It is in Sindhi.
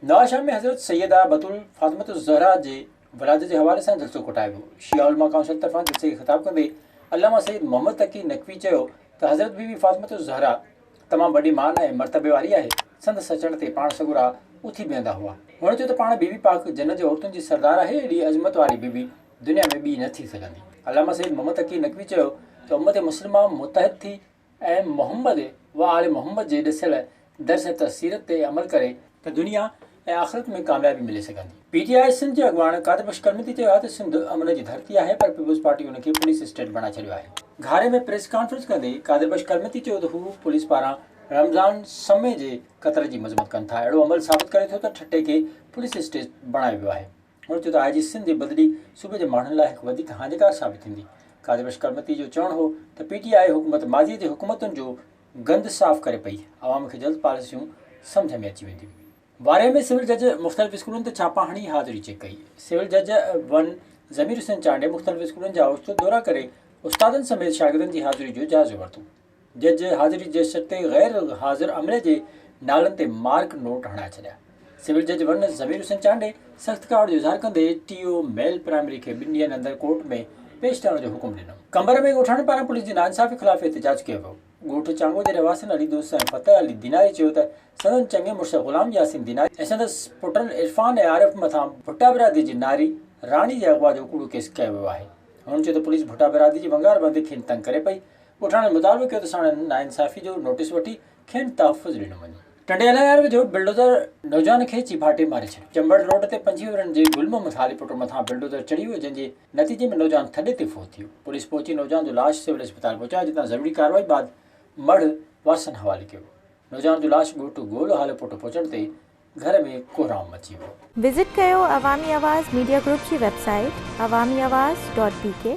نواز شاهه ۾ حضرت سيده بتول فاطمة الزهراء جي ولادت جي حوالي سان جلسو ڪوٺايو ويو. شيعه علماء ڪائونسل طرفان جلسي کي خطاب ڪندي علامه سيد محمد تقي نقوي چيو ته حضرت بيبي فاطمة الزهراء تمام وڏي مان ۽ مرتبي واري آهي، سندس اچڻ تي پاڻ سڳورا اٿي بيهندا هئا. هن چيو ته پاڻ بيبي پاڪ جنت جي عورتن جي سردار آهي، ايڏي عظمت واري بيبي دنيا ۾ ٻي نه ٿي سگهندي. علامه سيد محمد تقي نقوي چيو ته امت مسلمه متحد ٿي ۽ محمد و آل محمد جي ڏسيل درس ته سيرت تي عمل ڪري ته دنيا ۽ آخرت ۾ ڪاميابي ملي سگهندي. پي ٽي آء سنڌ جي اڳواڻ قادر بخش ڪرمتي چيو آهي ته سنڌ امن جي ڌرتي آهي پر پيپلز پارٽي ان کي پوليس اسٽيٽ بڻائي ڇڏيو آهي. گهاري ۾ پريس ڪانفرنس ڪندي قادر بخش ڪرمتي چيو ته هو پوليس پاران رمضان سمي جي قتل جي مذمت ڪن ٿا، اهڙو عمل ثابت ڪري ٿو ته ٺٽي کي پوليس اسٽيٽ بڻايو ويو آهي. هن چيو ته آء جي سنڌ جي بدلي صوبي جي ماڻهن لاء هڪ وڌيڪ هاڃيڪار ثابت ٿيندي. قاضي بشڪر متي جو چوڻ هو ته پي ٽي آء حڪومت ماضي جي حڪومتن جو گند صاف ڪري پئي، عوام کي جلد پاليسيون سمجهه ۾ اچي وينديون. وارهي ۾ سول جج مختلف اسڪولن تي ڇاپا هڻي حاضري چيڪ ڪئي. سول جج ون ضمير حسين چانڊيي مختلف اسڪولن جا اوچتو دورا ڪري استادن سميت شاگردن جي حاضري جو جائزو ورتو. جج حاضري جي شرط تي غير حاضر عملي جي نالن تي مارڪ نوٽ هڻائي ڇڏيا. سول جج ون ضمير حسين چانڊئي سخت ڪاوڙ جو اظهار ڪندي ٽي او ميل پرائمري کي ٻن ڏينهن اندر ڪورٽ ۾ پيش ڪرڻ جو حڪم ڏنو. قمبر ۾ ڳوٺاڻن پاران پوليس جي ناانصافي خلاف احتجاج ڪيو ويو. ڳوٺ چانگو جي رهواسين علي دوست ۽ فتح علي ديناري چيو ته سندن چڱي مڙس غلام ياسين ديناري ۽ سندس پٽن عرفان ۽ عارف مٿان ڀٽا برادري جي ناري راڻي جي اغوا جو ڪوڙو ڪيس ڪيو ويو آهي. هنن چيو ته پوليس ڀٽا برادري جي ونگار بند کين تنگ ڪري پئي ڳوٺاڻن مطالبو ڪيو ته ساڻن ناانصافي جو نوٽيس وٺي کين تحفظ ڏنو وڃي. ٽنڊيلا يار ويجهو بلڊوزر نوجوان کي چيڀاٽي ماري ڇڏيو، چمبڙ روڊ تي پنجين ورهين جي گل محمد خالي پٽ مٿان بلڊوزر چڙهي ويو جنهن جي نتيجي ۾ نوجوان ٿڏي تي فوت ٿيو، پوليس پهچي نوجوان جو لاش سول اسپتال پهچايو جتان ضروري ڪارروائي بعد مڙهه وارثن حوالي ڪيو ويو، نوجوان جو لاش ڳوٺ گول هالو پٽ پهچڻ تي گهر ۾ ڪوهرام مچي ويو. وزٽ ڪيو عوامي آواز ميڊيا گروپ جي website Awami Awaz dot بي ڪي.